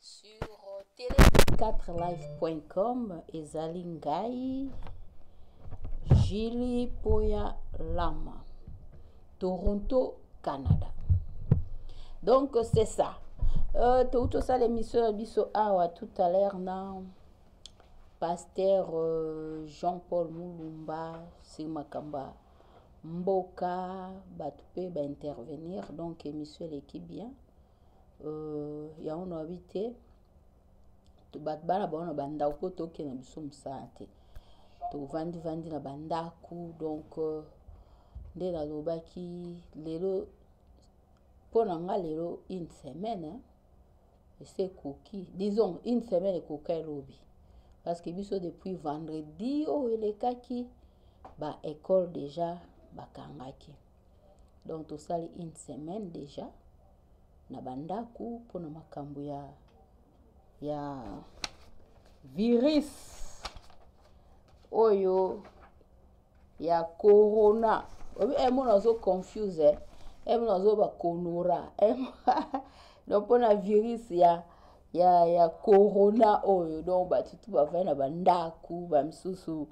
sur tele 4life.com ezali ngai jili poya lama toronto canada donc c'est ça euh, touti tosala émission na biso awa tout à l'heure na pasteur euh, jean paul mulumba se makambo mboka batu pe ba intervenir donc emission eleki bien euh, yango na babi te bato bana bango na bandako mpo tokende na biso mosala te tovandi vandi na bandako donc euh, nde nalobaki lelo mpo na nga lelo une semaine esi ekoki disons une semaine ekoka elobi parce que biso depuis vendredi oyo elekaki ba école déjà bakangaki donc tosali une semaine déjà na bandako mpo na makambo ya ya virus oyo ya corona obi eh, mona ozo confuse eh, eh mona ozo ba konora eh, donc mpo na virus ya ya ya corona oyo donc bato tu bavai na bandako bamisusu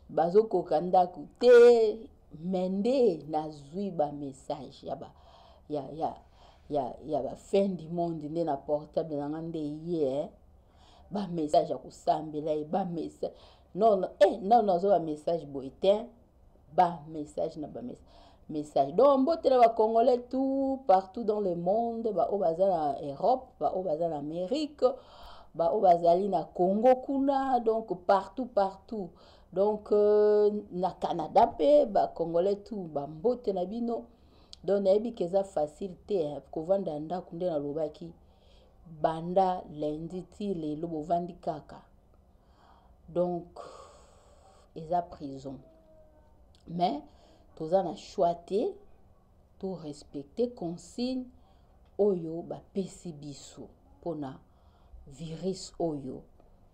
bazokoka ndako te me nde nazwi bamessage ya ba ya ya ya ya ba fin du monde nde na portable na nga nde ye eh. bamessage ya kosambela ye bamessage non non eh non non zo ba message boy te ba message na ba message message donc mbote na bacongolais tout partout dans le monde baoyo baza na europe baoyo baza na amérique baoyo bazali na congo kuna donc partout partout donc euh, na canada mpe bacongolais tout bambote na bino donc nayebi ke eza facile te eh, kovanda ya ndako nde nalobaki banda lendi ti lelo bovandi kaka donc eza prison mais toza na choix te to respecter consigne oyo bapesi biso mpona virus oyo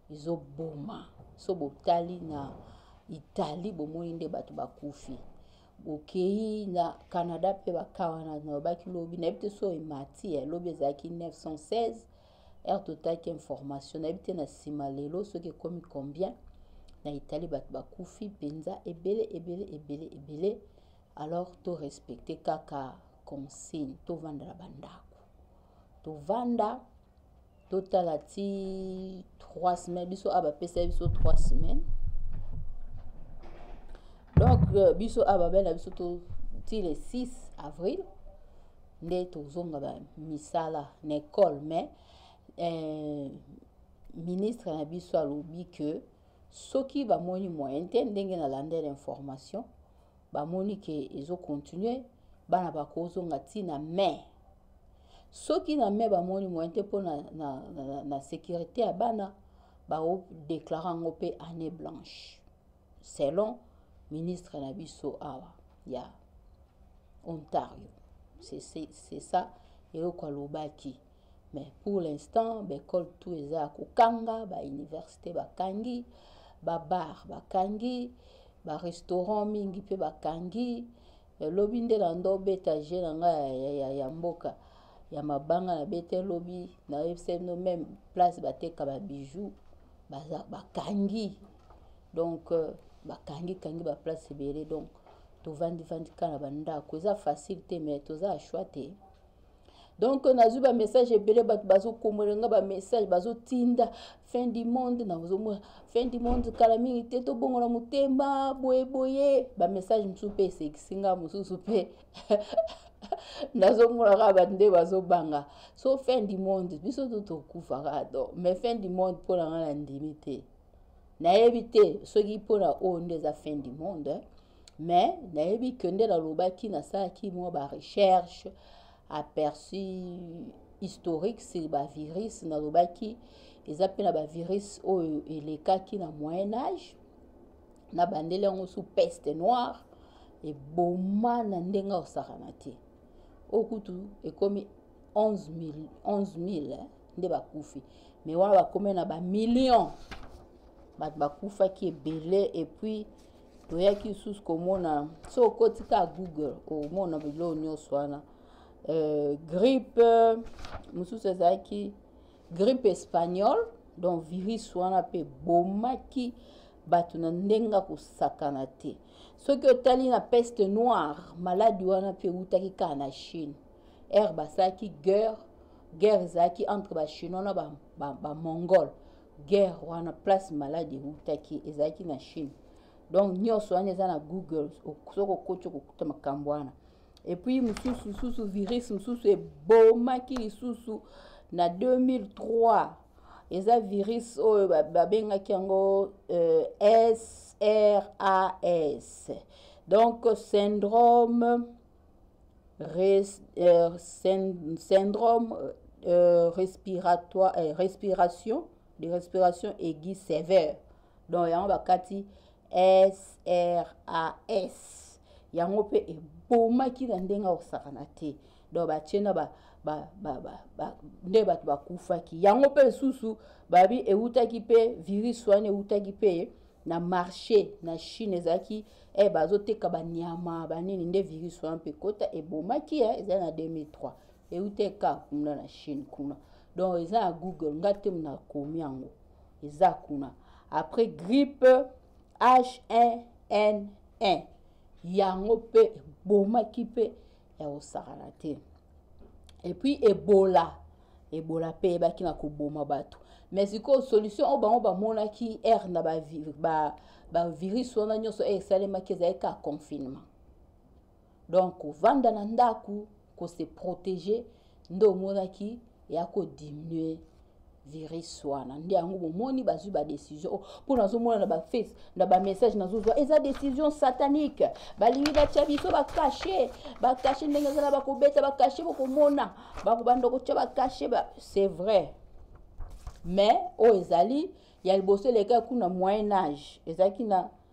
ezoboma so botali na italie bomoni nde bato bakufi bokei na canada mpe bakawana nalobaki lobi nayebi te so emati eh, lobi ezalaki 916 heure totalaki information nayebi te na nsima lelo soki ekomi combien na itali bato bakufi mpenza ebele ebele ebele ebele alors torespecte kaka consigne tovanda na bandako tovanda totala ti 3 semaine biso a bapesa biso 3 semaine donc euh, biso a babela biso to ti le 6 avril nde tozonga ba misala na ekole mais eh, ministre na biso alobi ke soki bamoni moyen te ndenge nalandela information bamoni ke ezokontinue bana bakozonga ntina mai soki na mai bamoni moyen te mpo na, na, na, na sécurité ya bana baodeklare yango mpe année blanche selon ministre na biso awa ya ontario c'est ça eloko alobaki mais pour l'instant baekole tout eza ya kokanga bauniversité bakangi babar bakangi barestaurant mingi mpe bakangi lobi nde na ndo obeta je na ngai ya, ya, ya, ya mboka ya mabanga na bete lobi nayebisa bino meme place bateka babiju bakangi ba donc euh, bakangi kangi ba place ebele donc tovandi vandi kaka na bandako eza facile te mais toza ya choix te donc nazwi bamessage ebele bato bazokomola nga bamessage bazotinda fin du monde nazomona fin du monde kala mingi te tobongola motema boye boye bamessage mosusu mpe esekisi nga mosusu mpe nazomona kaka bato nde bazobanga so fin du monde biso to tokufaka do mais fin du monde mpo na nga na ndimi te nayebi te soki mpona oyo nde eza fin du monde mais nayebi ke nde nalobaki nasalaki mwa barecherche aperçu historique sur bavirus nalobaki eza mpe na bavirus oyo elekaki na moyen age na bandeli yango sous peste noire eboma na ndenge osakana te okutu ekomi 11 000, 11 000 nde bakufi mais wana bakomi na bamillion bato bakufaki ebele epuis toyaki lisusu komona so okoti ka google omona biloko nyonso wana euh, grippe mosusu ezalaki grippe espagnole donc virus wana mpe ebomaki bato na ndenge kosakana te soki otali na peste noire maladi wana mpe ewutaki kaka na chine ere basalaki guerre guerre ezalaki entre bachinois na bamongole ba, ba guerre wana place maladi eutaki ezalaki na chine donc nyonso wana eza na google soki okoti okokuta makambo wana epuis mosusu mosusu virus mosusu ebomaki lisusu na 2003 eza virus oyo babengaki yango euh, sras donc syndrome Res, euh, syndrome euh, respiratoire, euh, respiration, de respiration aiguë sévère. Donc, il y a un SRAS. Il y a un eboma ki na ndenge akosakana te donc batie na nde bato bakufaki yango mpe lisusu babi eutaki mpe virus wana eutaki mpe na marché na chine ezalaki eh, bazoteka banyama banini nde virus wana mpe kota ebomaki eh, ezali na 2003 euta eka kuna na chine kuna donc eza na google nga te nakomi yango eza kuna après grippe h1n1 yango mpe ebomaki mpe ya kosakana te et puis ebola ebola mpe eyebaki na koboma bato mais sikoyo solution oyo bango bamonaki aire na bavirus ba, ba wana nyonso eye esalemaki ezalaki ka confinement donc kovanda na ndako kose protéger nde omonaki ya ko diminuer virus wana nde yango bomoni bazwi badecision oh, mpo nazomona na baface na bamessage nazozwa eza decision satanique balingi batya biso bakashe bakashe ndenge ezala bakobeta bakashe bokomona bakobanda kotya bakashe ba... c'est vrai mais oyo oh, ezali ya liboso eleka kuna moyen age ezalaki na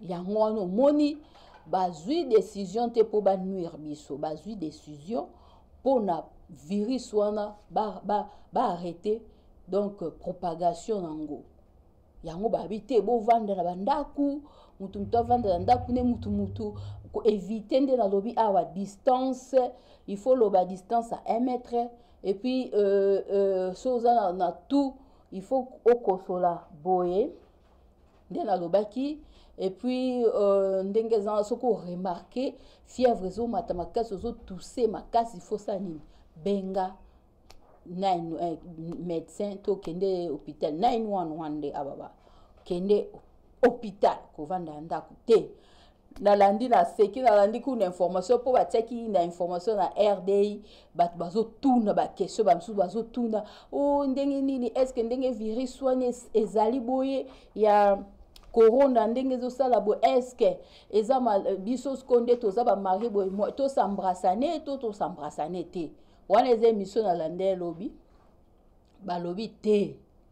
yango wana omoni bazwi decision te mpo banuire biso bazwi decision mpo na virus wana baarrete ba, ba donc euh, propagation na yango yango babi te bovanda na bandako mutu mutu avanda na ndako nde mutu mutu koevite nde nalobi awa distance il faut loba distance ya 1 mètre et puis euh, euh, so oza na, na tout il faut okosola boye nde nalobaki epuis euh, ndenge ezanga soki oremarke fièvre ezomata makasi ozotuse makasi fosa nini benga nine, eh, médecin to kende hôpital 911 nde ababa kende hôpital kovanda ya ndako te nalandi naseki nalandi kuna information mpo batiaki na information na rdi bato bazotuna baquestion bamosusu bazotuna o oh, ndenge nini estce ndenge virus wana ezali boye ya corona ndenge ezosala boye estce eza biso siko nde toza bamarie boye tosambrasane to tosambrasane te wana eza emission nalandai lobi balobi te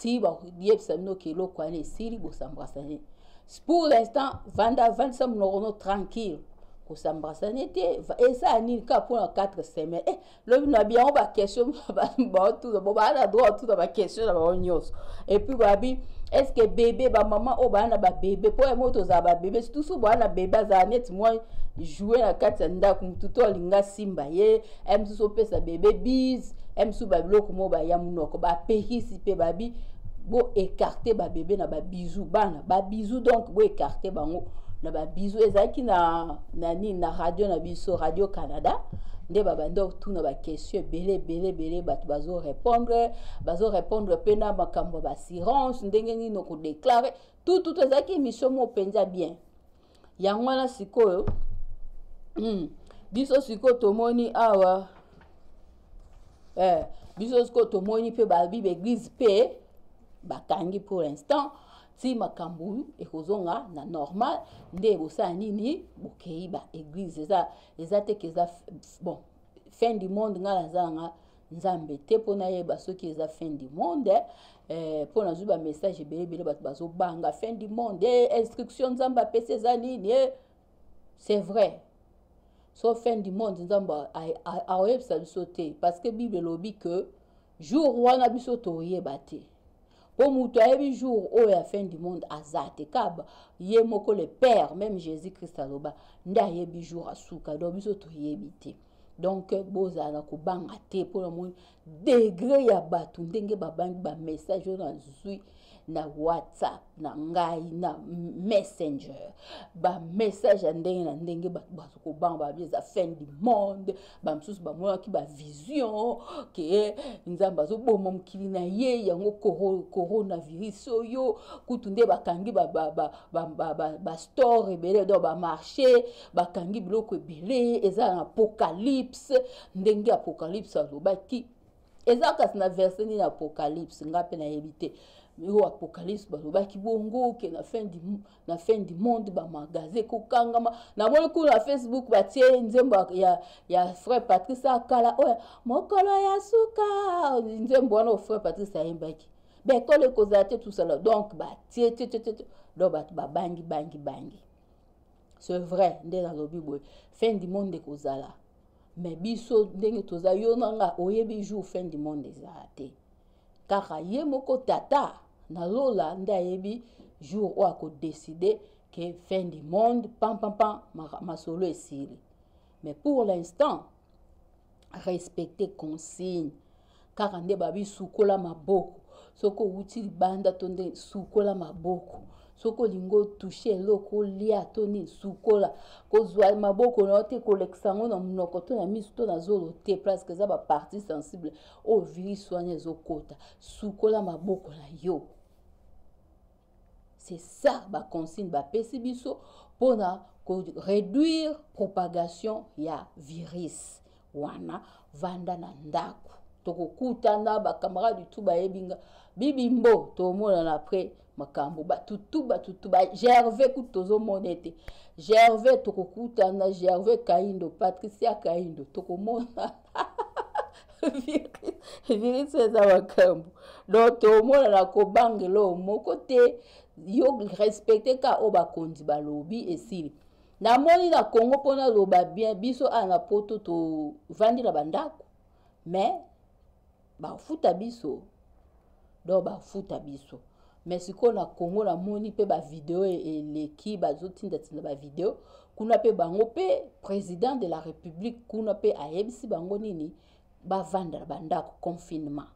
ti bakobiyebisa bino ke eloko wana esili bosambrasane pour l'instant vanda vandisa monoko no tranquille kosambrasane te eza nini kaka mpona 4 semaine e eh, lobi na biango baquestion baotuna bo baa na droit otuna baquestion na bango nyonso epuis babi estce bebe bamama oyo baa na babebe mpo yango tozala babebe surtout soki baa na bebe azala neti mwa joue na kati ya ndako motu to alinga simba ye aya mosusu opesa bebe bise aya mosusu babiloko moko baya monoko bapekisi mpe babi boekarte babebe na babizu bana babizu donc boekarte bango na babizu ezalaki na na nini na radio na biso radio canada nde babandi otuna baquestion ebele ebele ebele bato bazorépondre bazorépondre mpe na makambo ya baassurance ndenge nini okodeklare tututu ezalaki émission moko mpenza bien yango wana sikoyo mm, biso sikoyo tomoni awa eh, biso sikoyo tomoni mpe babi baeglise mpe bakangi pour l'instant ti makambo ekozonga na normal nde bosala nini bokei baeglise eza eza teke eza bon fin du monde ngai naza nanga nzambe te mpo nayeba soki eza fin du monde eh, mpo nazwi bamessage ebele ebele bato bazobanga fin du monde eh, instruction nzambe apesi eza nini eh. c'est vrai so fin du monde nzambe akoyebisa biso te parce que bible elobi que jour wana biso toyeba te mpo moto ayebi jour oyo ya fin du monde aza te kaba ye moko le père même jésus christ aloba nde ayebi jour asuka donc biso toyebi te donc bozala na kobanga te mpo namoni degre ya bato ndenge babangi bamessage oyo nazwi na whatsapp na ngai na messenger bamessage ya ndenge na ndenge bato bato kobanga babi eza fin du monde bamosusu bamonaki bavision ke nzambe azoboma mokili na ye yango coronavirus oyo kutu nde bakangi bastore ebele do bamarché bakangi biloko ebele eza na apocalypse ndenge apocalypse alobaki eza kasi na verse nini apocalypse nga mpe nayebi te oyo apocalypse balobaki bongo ke na fin du, na fin du monde bamagaze ekokangama namoni kuna na facebook batie nzembo ya, ya frère patrice akala oyo mokolo ya suka nzembo wana oyo frère patrice ayembaki bekolo ekozala te tusala donc batie te te te donc bato babangi bangi bangi, bangi. c'est vrai nde nalobi boye fin du monde ekozala mais biso ndenge toza yo na nga oyebi jour fin du monde ezala te kaka ye moko tata na lola nde ayebi jour oyo akodeside ke fin du monde pampampan masolo esili mais pour l'instant respecter consigne kaka nde babi sukola maboko soki owuti libanda to nde sukola maboko soki olingi otushe eloko olia to nini sukola kozwa maboko na yo te kolekisa yango na monoko to na miso to na zolo te presque eza bapartie sensible oyo virus wana ezokota sukola maboko na yo C'est ça ba consigne ba pesi biso pona ko réduire propagation ya virus wana vanda na ndako tokokutana bacamarade tu bayebi nga bibimbo tomonana après makambo batutu batutu ba gervais kutu tozomona ete gervais tokokutana gervais kaindo patricia kaindo tokomona virisi eza makambo donc tomonana kobanga eloo moko te yo respecte ka oyo bakonzi balobi esili namoni na congo mpo naloba bien biso awa na poto tovandi na bandako mais bafuta biso donc bafuta biso mais sikoyo na congo namoni mpe bavideo e, eleki bazotindatinda bavideo kuna mpe bango mpe président de la république kuna mpe ayebisi bango nini bavanda na bandako confinement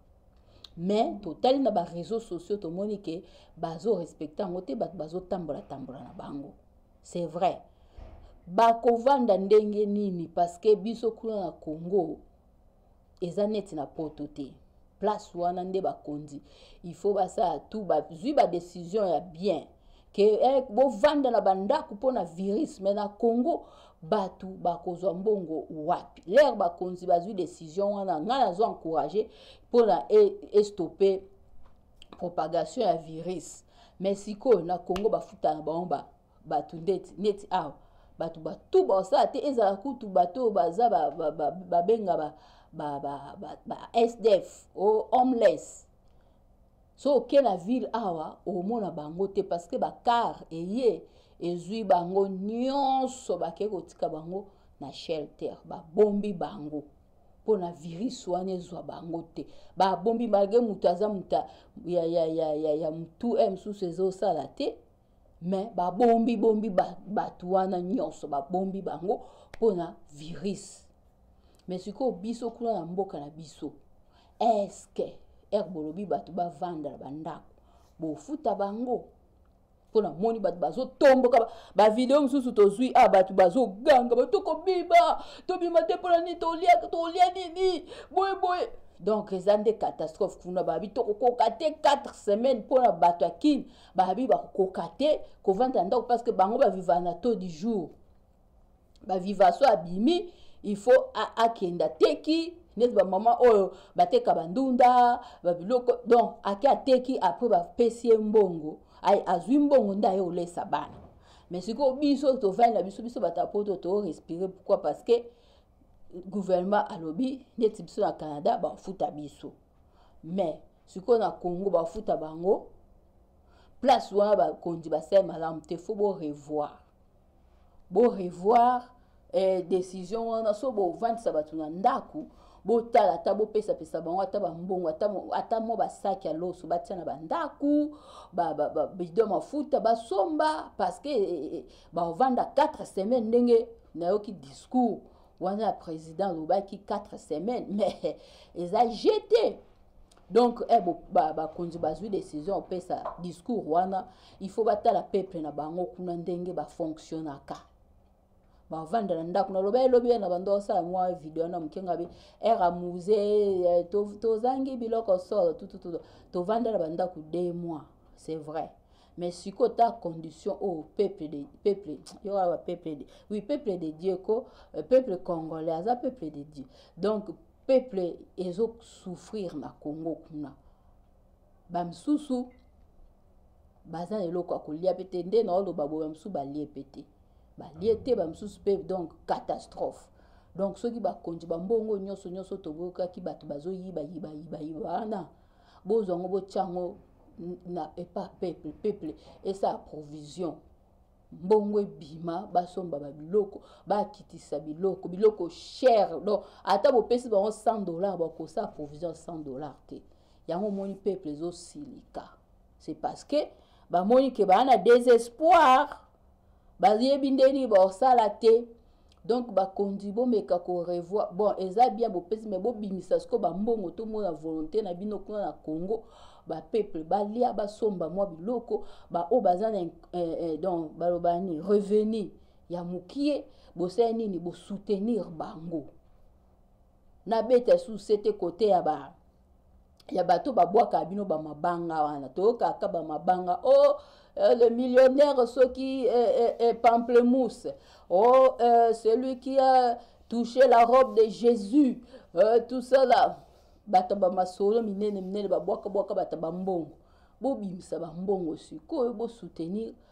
mais totali na bareseau sociaux tomoni ke bazorespecte yango te bato bazotambolatambola na bango c'est vrai bakovanda ndenge nini parce que biso kuna na congo eza neti na poto te place wana nde bakonzi il faut basala tout bazwi badecision ya bien ke eh, bovanda na bandako mpo na virus me na congo bato bakozwa mbongo wapi lere bakonzi bazwi decision wana ngai nazo encourage mpo na e, estope propagation ya virus me sikoyo na congo bafutana bango ba bato ndeti neti awa bato batu baosala te ezala kutu bato oyo baza babenga ba, ba, ba, ba, ba sdf o homeless so oke na ville awa omona bango te parce que bacar eye ezwi bango nyonso bakei kotika bango na shelter babombi bango mpo na virus wana ezwa bango te babombi malgre moto aza moto ya, ya, ya, ya, ya motu eh, mosusu ezosala te mais babombi bombi bato wana nyonso babombi bango mpo na virus mais sikoyo biso kuna na mboka na biso eske ere bolobi bato bavanda na bandako bofuta bango mpo namoni bato bazotomboka bavideo mosusu tozwi a ah, bato bazoganga bato tokobima tobima te mpo na nini tolia nini boye boye donc eza nde catastrophe kuna babi tokokoka te 4 semaine mpo na bato ya kini bahabi bakokoka te kovanda na ndako parce que bango baviva na taux du jour baviva so abimi il faut akenda teki neti bamama oyo bateka bandunda babiloko donc ake ateki apres bapesi ye mbongo azwi mbongo nde aye olesa bana mais sikoyo biso tovandi na biso biso bato ya poto toorespire pourquoi parce que gouvernement alobi neti biso na canada bafuta biso mais sikoyo na congo bafuta bango place wana bakonzi basali malamu te fo borevoir borevoir eh, décision wana so bovandisa bato na ndako botala ata bopesapesa bango ata bambongo ata mwa basaki ya loso batia na bandako bido mafuta basomba parceke eh, eh, eh, baovanda 4 semaine ndenge nayoki discours wana ya président alobaki 4 semaines mais eza jete donc eh, bakonzi ba, ba bazwi décision opesa discours wana il faut batala peuple na bango kuna ndenge bafonctionnaka bavanda na ndako naloba elobi ye na bando osala mwa video na moke ngabi ere amuse eh, tozangi biloko solo tututu tovanda na bandako de mois c'est vrai mais sikoyo ta condition oyo oh, peuple de peuple yo awa peuple de oui peuple de dieu ko euh, peuple congolais aza peuple de dieu donc peuple ezo souffrir na congo kuna bamisusu baza na eloko ya kolia mpe te nde naoloba boye bamisusu balie mpe te balie te bamisusu mpe donc catastrophe donc soki bakonzi bambongo nyonso nyonso toboyokaki bato bazoyiba yiba yiba yiba wana bozwa yango botya yango na epa peuple peuple esa provision mbongo ebima basomba babiloko bakitisa biloko biloko cher donc ata bopesi bango 100 dollar bakosa provision 100 dollar te yango omoni peuple ezosilika c'est parce que bamoni ke baa na désespoir bayebi nde nini bakosala te donc bakonzi bomeka korevoir bon eza bien bopesi mai bobimisa sikoyo bambongo tomona volonté na bino kuna na congo bapeuple balia basomba mwa biloko baoyo baza na eh, eh, donc baloba nini revenu ya mokie bosala nini bosoutenir bango nabeta suse te kote ya ba ya bato babwaka bino bamabanga wana toyokaka bamabanga o oh, euh, le millionnaire soki eh, eh, eh, pamplemousse o oh, euh, celui qui a touché la robe de jésus euh, tout ça là bato bamasolo minene minene babwakabwaka bato bambongo bobimisa bambongo sikoyo bosoutenir ba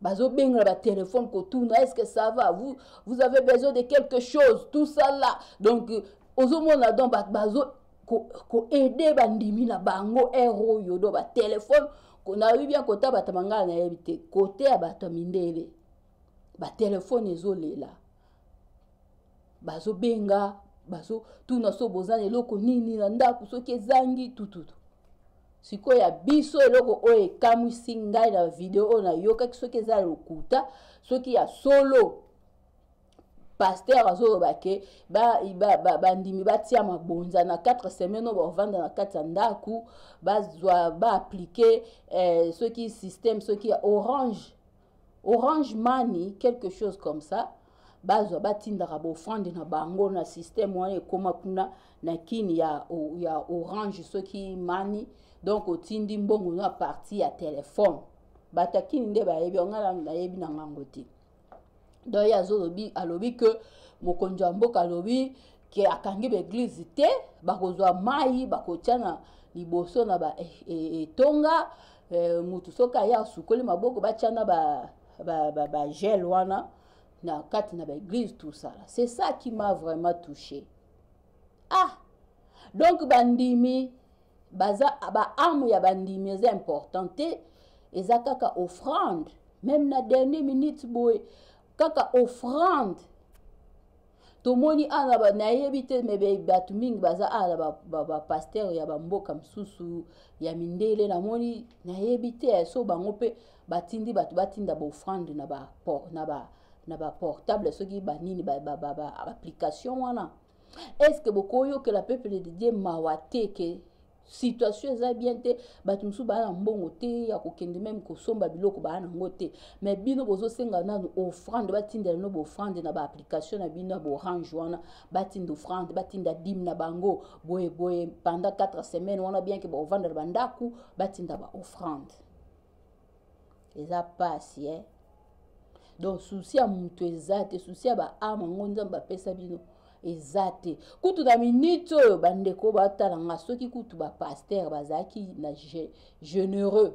bazobengela batelefone kotuna est ce que ça va vous, vous avez besoin de quelque chose tout ça là donc euh, ozomona donc bazo koaide bandimi na bango ere oyo do batelefone nayebi bien kota bato mangala nayebi te kote ya bato ya mindele batelefone ezolela bazobenga bazotuna so boza na eloko nini na ndako soki ezangi tututu sikoyo ya biso eloko oyo ekamwisi ngai na video oyo nayokaki soki eza lokuta soki ya solo paster azoloba ke bandimi ba, ba, ba batia mabonza na 4 semaine oyo bakovanda na kati ya ndako bazwa baaplike eh, soki systeme soki ya orange orange money quelque chose comme ça bazwa batindaka baofrande na bango na systeme wana ekóma kuna na kini ya, ya orange soki mani donc otindi mbongo na parti ya telefone bato ya kini nde bayebi yango ngai nayebi na ngango te donc ye azolobi alobi ke mokonzi ya mboka alobi ke akangi baeglize te bakozwa mai bakotya na liboso na baetonga eh, eh, eh, mutu soki aye asukoli maboko batya na ba, ba, ba, ba gel wana na kati na baeglise tosala c'est ça qui m'a vraiment touché ah donc bandimi baza baarme ya bandimi eza important te eza kaka offrande même na dernier minute boye kaka offrande tomoni awa ba, nayebi te me bato mingi baza awa na bapastere ba, ba ya bamboka mosusu ya mindele namoni nayebi te so bango mpe batindi bato batinda baofrande na ba, na ba, na baportable soki banini baapplication ba, ba, ba, wana est ce que bokoyokela peuple de dieu mawa te ke situation eza bien te bato mosusu baa na mbongo te ya kokende meme kosomba biloko baa nango te mais bino bozosenga nanu offrande batindela bino baoffrande na baapplication na bino ya baorange wana batinda offrande batinda dime na bango boye boye pendant 4 semaine wana bien ke baovanda na bandako batinda baoffrande eza pasi eh? donc susi ya moto eza te susi ya baame yango nzambe bapesa bino eza te kutu na minute oyo bandeko batala nga soki kutu bapaster bazalaki na généreux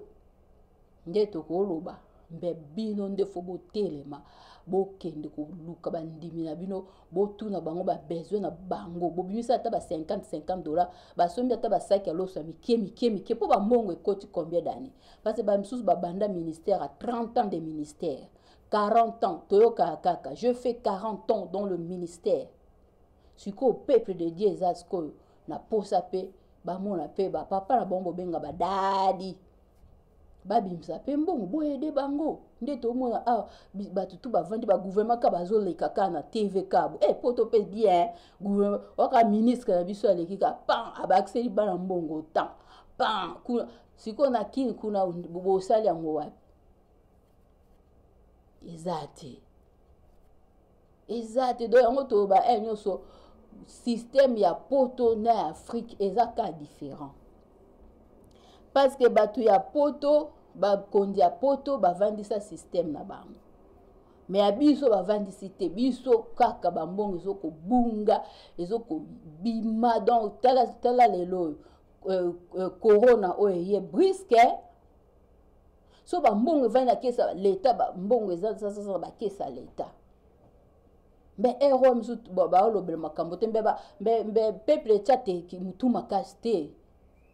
nde tokoloba mpe bino nde fo botelema bokende koluka bandimi na bino botuna bango babesoin na bango bobimisa ata ba 50 50 dollar basombi ata basaki ya loso ya mike mike mike mpo bambongo ekoti combien d'année parce que bamisusu babanda ministère à 30 ans de ministère 40 ans toyokaka kaka je fais 40 ans dans le ministère sikoyo peuple de dieu eza sikoyo na posa mpe bamona mpe bapapa na bango bobenga badadi babimisa mpe mbongo boyede bango nde tomona awa ah, bato tu bavandi bagouvernement ka bazoleka ka na tv kabo e eh, poto mpe bien gouvernement waka ministre na biso aleki ka pan abakiseli bana mbongo tan pan kuna sikoyo na kini kuna bosali yango wapi eza te eza te do yango toloba e eh, nyonso système ya poto na ya afrique eza ka différent parce que bato ya poto bakonzi ya poto bavandisa système na bango me ya biso bavandisi te biso kaka bambongo ezokobunga ezokobima donc tala, tala lelo oyo euh, euh, corona oyo eye briske so bambongo evandi na kesa leta bambongo ezazazaa bakesa leta mbe ero oyo mosusu baolobela makambo te mbe peuple etya te motu makasi te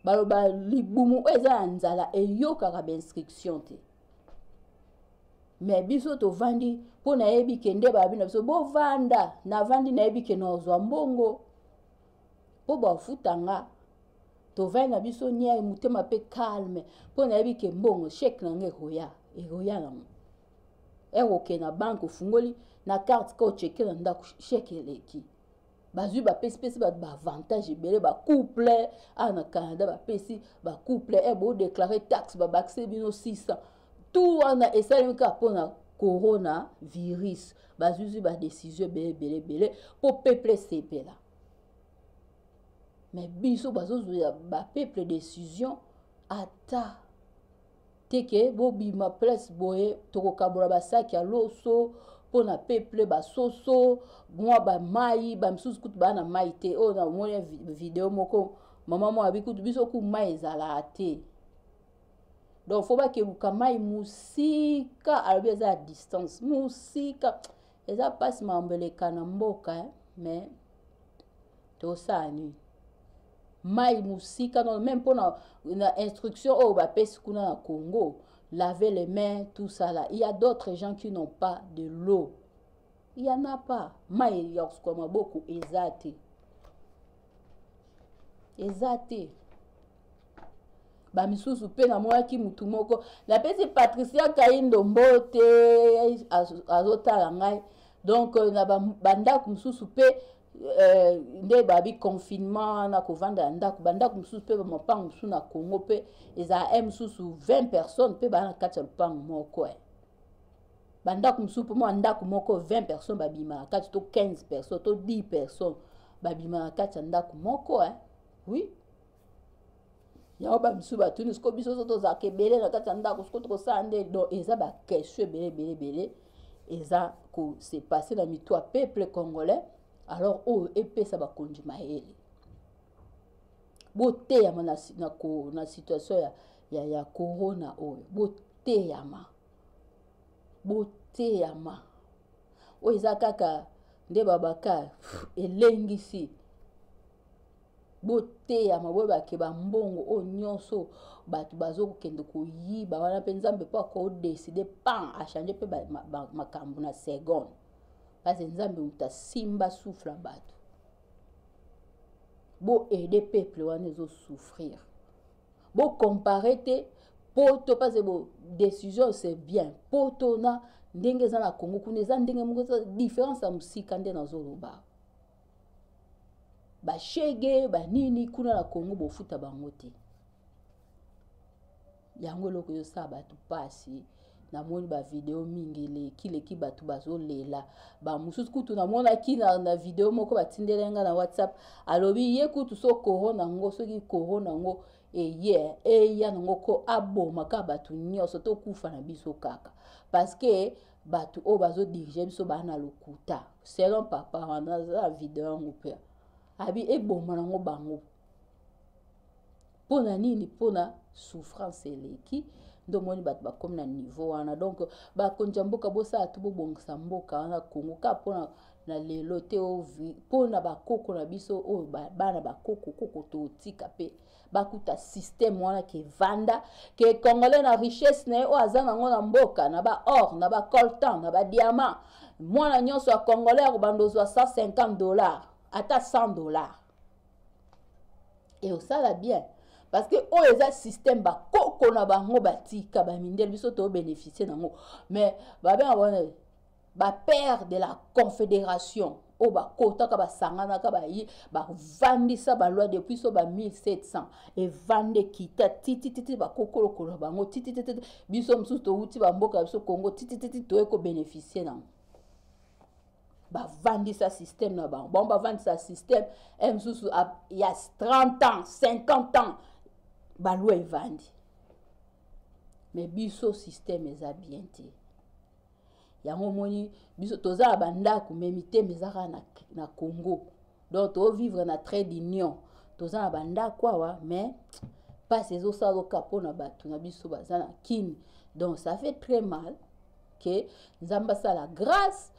baloba libumu oyo eza na nzala eyokaka bainstruction te me biso tovandi mpo nayebi ke nde babi na biso bovanda navandi nayebi ke nazwa mbongo mpo bafuta nga tovai na biso niai motema mpe calme mpo nayebi ke mbongo sheke na nga ekoya ekoya nango ekokee na banke ofungoli na karte ka ocheke na ndako sheke eleki bazwi bapesipesi bato baavantage ebele bacouple awa na canada bapesi bacouple e eh, bodeklare taxe babakise bino 600 tout wana esalemi kaka mpo na corona virus bazuzi badesizio ebele ebele ebele mpo peuple esepela me biso bazozwela bapeuple decision ata teke bobima place boye tokokabola basaki ya loso mpo na peuple basoso mwa bamai bamisusu kutu baa na mai te oyo namoni video moko mama moko abi kutu biso ku mai ezalaka te donc fo bakeluka mai mosika alobi eza ya distance mosika eza mpasi makambo eleka na mboka eh? mais tosala nini mai mosika no meme mpo na, na instruction oyo bapesi kuna na congo laver les mains tout ça là il y a d'autres gens qui n'ont pas de l'eau il y en a pas mai ya kosukola maboko eza te eza te bamisusu mpe namonaki motu moko napesi patricia kaindo mbote azotala ngai donc euh, na bandako mosusu mpe euh, nde babi confinement na kovanda ya ndako bandako mosusu mpe bamapango mosusu na congo mpe ezala e mosusu 20 personnes mpe baa na kati ya lopango moko e bandako mosusu mpo mwa ndako moko 20 personnes babima na kati to 15 personnes to 10 personnes babima na kati ya ndako moko e oui yango ba misusu batuni siko biso so tozalaka ebele na kati ya ndako siko tokosala nde donc eza bakestion ebele ebele ebele eza kose passe na mitu ya peuple congolais alors oyo epesa bakonzi mayele boteyama na, na, na situation ya, ya, ya corona oyo boteyama boteyama oyo eza kaka nde babakar elengisi boteyama boyeba ke bambongo oyo nyonso bato bazokokende koyiba wana mpe nzambe mpo akodeside pan achange mpe makambo na seconde parce nzambe moto asimba soufle ya bato boaide peuple wana ezosouffrir bocompare te poto parce bo décision c'est bien poto na ndenge eza na congo kuna eza ndenge moko eza différence ya mosika nde nazoloba bashege banini kuna na congo bofuta bango te yango eloko ezosala bato mpasi namoni bavideo mingi eleki leki bato bazolela bamosusu kutu namonaki na, na video moko batindeli ngai na whatsapp alobi ye kutu so koro na yango soki koro na yango eye eya na yango ko aboma kaka bato nyonso tokufa na biso kaka parceke bato oyo bazodirige biso baa na lokuta selon papa wana aza video yango mpe abi eboma nango bango mpo na nini mpo na souffrance eleki nde omoni bato bakomi na niveau wana donc bakonzi ya mboka bosala to bobongisa mboka wana kongo kaka mpona na lelo te mpo na bakoko na biso oyo bana bakoko koko totika mpe bakuta système wana ke vanda ke congolais na richesse na ye oyo aza nango na mboka na ba or na ba coltan na ba diamant mwana nyonso ya congolais akobanda ozwa 150 dollars ata 100 dollars e osala bien parce que oyo eza système bakoko na bango batika bamindele biso tobénéficie nango mais babengaka wana ba père de la confédération oyo bakotaka basanganaka bayi bavandisa balwa depuis so ba 1700 evanda ekita titititi bakokolokolo bango titititi biso mosusu towuti bamboka ya biso congo titititi toye kobénéficie nango bavandisa système na bango bango bavandisa système e eh, mosusu ya 30 ans 50 ans balwa evandi mais biso système eza bien te yango omoni biso toza na bandako me mitema eza kaka na, na congo donc tovivre na trait d'union toza na bandako awa mais mpasi ezosala loka mpo na bato na biso baza na kini donc ça fait très mal ke nzambe asala grâce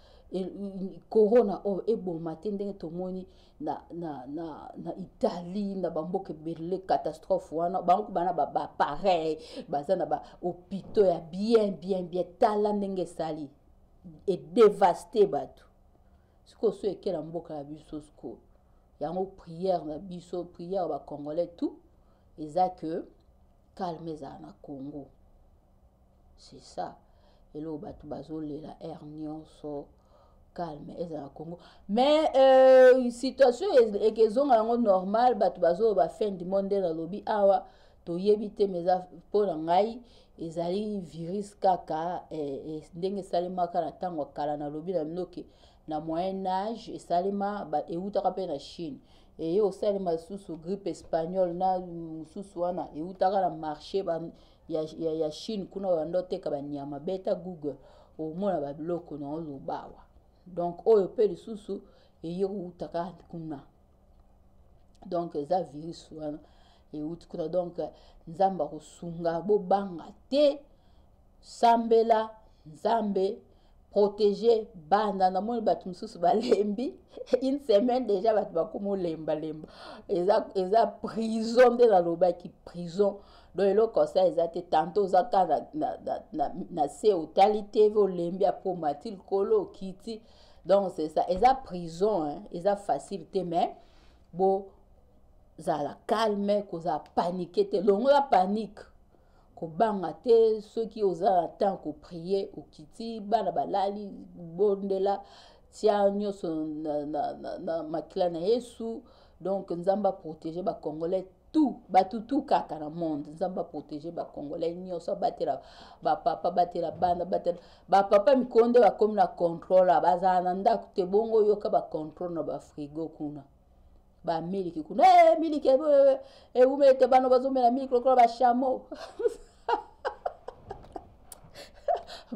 corona oyo eboma te ndenge tomoni na, na, na, na italie na bamboka ebele catastrophe wana bango bana bapareil baza na bahopitau ya bien bien bien tala ndenge esali edevaste bato sikoyo so ekela mboka ya biso sikoyo yango prière na biso prière bacongolais tout eza que calme ezala na congo c'est ça eloko bato bazolela aire nyonso calme ezala na congo mais euh, situation eke ezonga yango normal bato bazoloba fin du monde nde nalobi awa toyebi te ma eza mpo na ngai ezali virus kaka eh, eh, ndenge esalemaka na ntango ya kala nalobi na bino ke na moyen age esalema eutaka mpe na chine eye osalema lisusu grippe espagnole na mosusu wana eutaka na marché ba, ya, ya, ya chine kuna oyanda oteka banyama beta google omona babiloko na olobawa donc oyo mpe lisusu eye koutaka kuna donc eza virus wana euti kuna donc nzambe akosunga bobanga te sambela nzambe protéger banda namoni bato mosusu balembi une semaine déjà bato bakoma olembalemba eza, eza prison nde nalobaki prison donc eloko sa eza te tanto oza ka na, na, na, na, na se otali tv olembi apo mati likolo okiti donc c'est ça eza prison hein? eza facile te mais bozala calme kozala panike te longola panike kobanga te soki oza na temps koprie okiti bana balali bondela tia nyonso na, na, na, na makila na yesu donc nzambe aprotege bacongolais tout bato tout kaka na monde nzambe aprotege bacongolais nyonso abatela bapapa batela bana batela bapapa mikolo nde bakomi na controle bazala na ndako te bongo oyoka bacontrole na bafrigo kuna bamiliki kuna hey, eh, miliki ewumeli eh, eh, te bana bazomela miliki lokola bashamo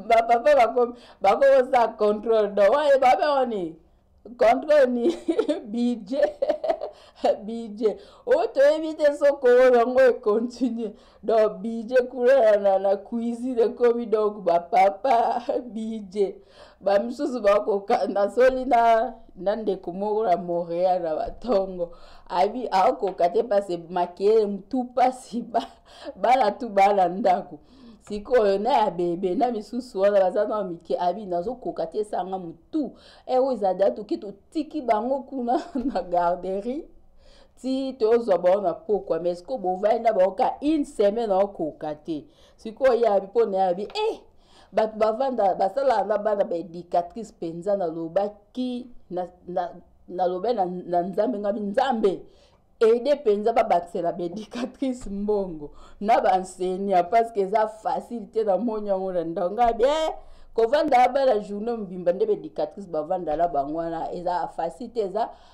bapapa bakomi bakosala controle do waye babe oni controle ni budget budget oyo toyebi te soko oyo yango econtinue donc bije kuna na, na cuisine ekomi donc bapapa bije bamisusu bakoka nasoli na na ndeko moko na montréal na batongo abi akoka te pase makele mutu pasi bana tu bana ndako sikoyo na ya bebe na misusu wana baza na mike abi nazokoka te esanga mutu eoyo ezali atoki totiki bango kuna na garderie ti tozwa bango na pokwa mais sikoyo bovandi na bango ka une semaine aokoka te sikoyo ye abi mpo na ye abi eh bato bavanda basalaka na bana baéducatrice mpenza nalobaki nalobai na, na, na, na nzambe ngabi nzambe ede mpenza babakisela baéducatrice mbongo na baenseignant ah, parce que eza facile te na moni yango na ndanga bie eh, kovanda ya bana journée mobimba nde baéducatrice bavanda na bango wana eza facile te eza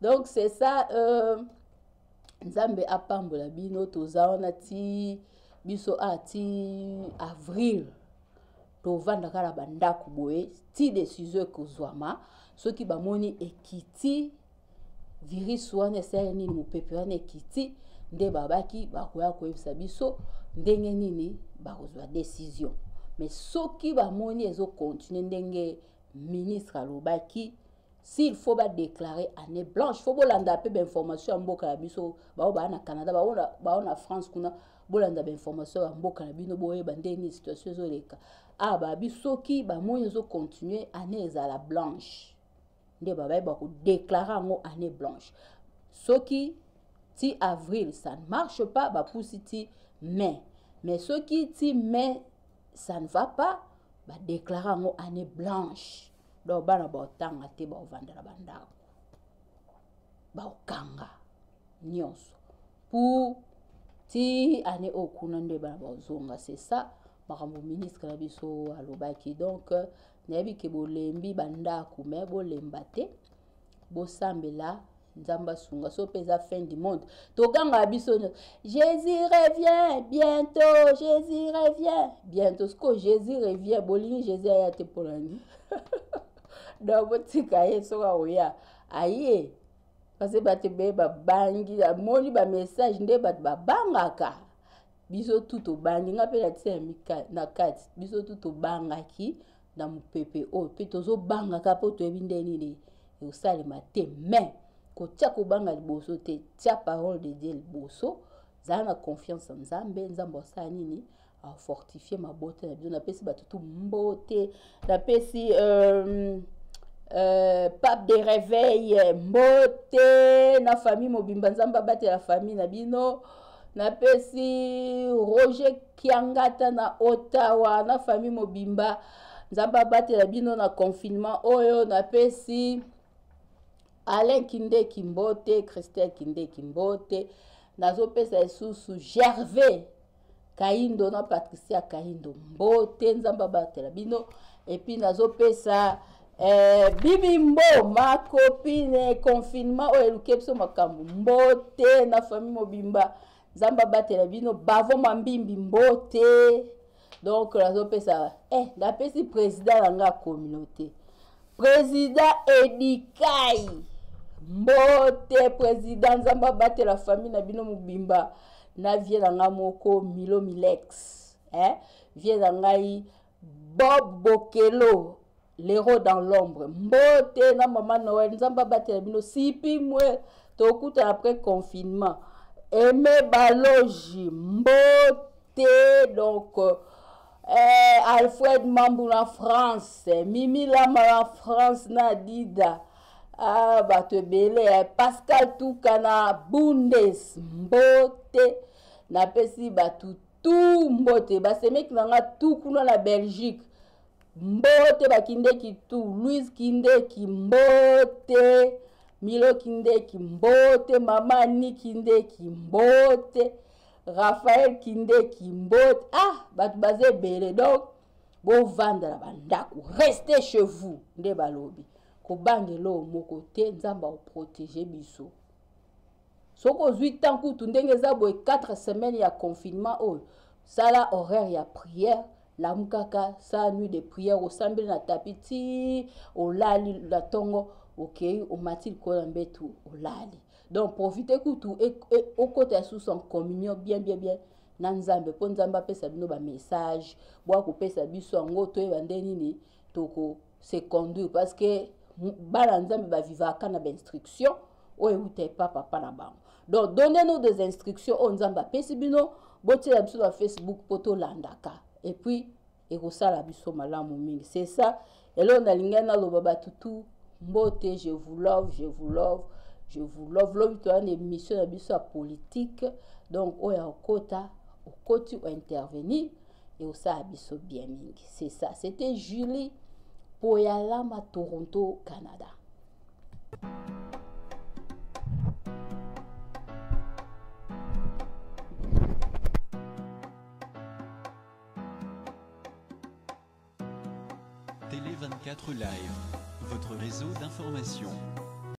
donc c'est ça euh, nzambe apambola bino toza wana ti biso a ah, ti avril tovandaka na bandako boye ti desizio ekozwama soki bamoni ekiti virus wana esali nini mopepe wana ekiti nde babaki bakoya koyebisa biso ndenge nini bakozwa desizio mais soki bamoni ezokontinue ndenge ministre alobaki s'il faut ba déclarer année blanche faut bolanda pe ba information ya mboka ya biso bao ba na Canada bao na bao na France kuna bolanda ba information ya mboka na bino boyeba ndenge nini situation ezoleka ah ba biso ki ba moyi ezo continuer année ezala blanche nde babaye ba ko déclarer yango année blanche soki ti avril ça ne marche pas ba pusi ti mai mais soki ti mai ça ne va pas ba déclarer yango année blanche donc bana baotanga te baovanda na bandako baokanga nyonso pour ti année oyo kuna nde bana baozonga c'est ça makambo ministre na biso alobaki donc nayebi ke bolembi bandako me bolemba te bosambela nzambe asunga so mpe eza fin du monde togangaka biso nyonso jésus revient bientôt jésus revient bientôt sikoyo jésus revient bolingi jésus aya te mpo na nini donc botika ye soki akoya aye parce bato be babangi amoni bamessage nde bato babangaka biso tu tobangi ngai mpe natisa ya na kati biso tu tobangaki na mopepe oyo mpe tozobangaka mpo toyebi nde nini ekosalema te mais kotya kobanga liboso te tya parole de dieu liboso zala na confiance ya nzambe nzambe asala nini afortifie mabota na biso napesi bato tu mbote napesi euh, Euh, pape de réveil mbote na famille mobimba nzambe abatela famille na bino napesi roger kiangata na ottawa na famille mobimba nzambe abatela bino na confinement oyo napesi alain kindeki mbote christian kindeki mbote nazopesa lisusu gervais kaindo na patricia kaindo mbote nzambe abatela bino epuis nazopesa eh, bibi mbo makopine confinement oyo eluki biso makambo mbote na famille mobimba nzambe abatela bino bavo mambimbi mbote donc nazopesa eh, napesi président na nga communauté président edikai mbote président nzambe abatela famille na bino mobimba na vie na ngai moko milo milex eh? vie na ngai Bob Bokelo l'héros dans l'ombre mbote na mama noel nzambe abatela bino sipi mwe tokutana après confinement aime baloji mbote donc euh, eh, alfred mambu na france mimi lama na france na dida ah, bato ebele eh. pascal tuka na bundes mbote napesi bato tu mbote basemeki na nga tu kuna na belgique mbote bakindeki tu louise kindeki mbote milo kindeki mbote mama ani kindeki mbote raphael kindeki mbote ah bato baza ebele donc bovanda na bandako reste chez vous nde balobi kobanga eloo moko te nzambe akoprotege biso soki ozwi temps kutu ndenge eza boye 4 semaines ya confinement oyo sala horaire ya prière lamukaka sala nuit de prière osambeli na tapi ti olali na ntongo okei okay, omati likolo ya mbetu olali donc profite kutu e, e, okota susu en communion bien bien bien na nzambe mpo nzambe apesa bino bamessage bwa kopesa biso yango toyeba nde nini toko se conduire parce que bana nzambe bavivaka na bainstruction oyo euta epa papa na bango donc donne nous des instructions oyo nzambe apesi bino botiela biso na facebook mpo tolandaka epuis ekosala biso malamu mingi c'est ça eloo nalingai naloba bato tu mbote je vous love je vous love je vous love lobi toya na émission na biso ya politique donc oyo akota okoti ointervenir ekosala biso bien mingi c'est ça c'était julie poyalama toronto canada Télé 24 Live, votre réseau d'information.